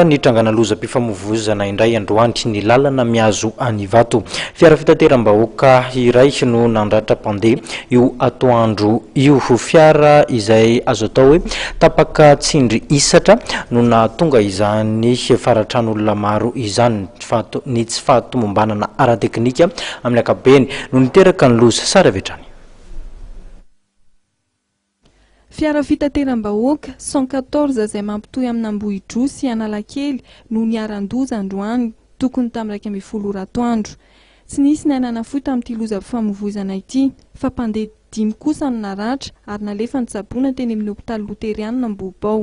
Nitrangana lozam-pifamoivoizana indray androany ny lalana mihazo an'i Ivato. Fiara fitateram-bahoaka iray no nandratra mpandeha io atoandro io. Fiara izay azo atao hoe tapaka tsindry hisatra no nahatonga izany faratran'olona maro izany fa ny tsy fahatomombanana ara-teknika amin'ny ankapobeny no niteraka ny loza. Sary avy hatrany. Fiara fitateram-bahoaka cent quatorze izay mampitohy amin'Ambohidroa sy Analakely no niharan-doza androany tokony tamin'ny iraika ambin'ny folo ora atoandro. Tsy nisy ny aina nafoy tamin'ity lozam-pifamoivoizana ity fa mpandeha dimy kosa no naratra ary nalefan'ny tsaboina teny amin'ny hopitaly loterianina Ambohibao.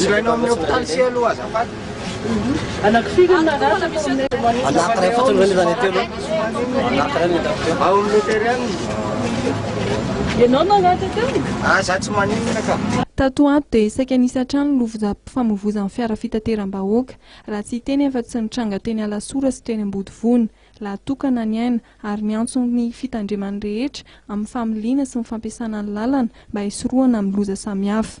Ilaina ao amin'ny hopitaly sy aloha azafady. Ao amin'ny loteriana izy. Ah za tsy maninona ka. Tato ato dia saika nisy hatrany ny lovozam-pifamoivoizan'ny fiara fitateram-bahoaka, raha tsy hiteny afa tsy nitranga teny Alasora sy teny Ambodivona. Lahatokana ny aina ary miantso ny fitandremana rehetra amin'ny familiana sy ny fampiasana ny lalana mba hisorohana amin'ny loza samihafa.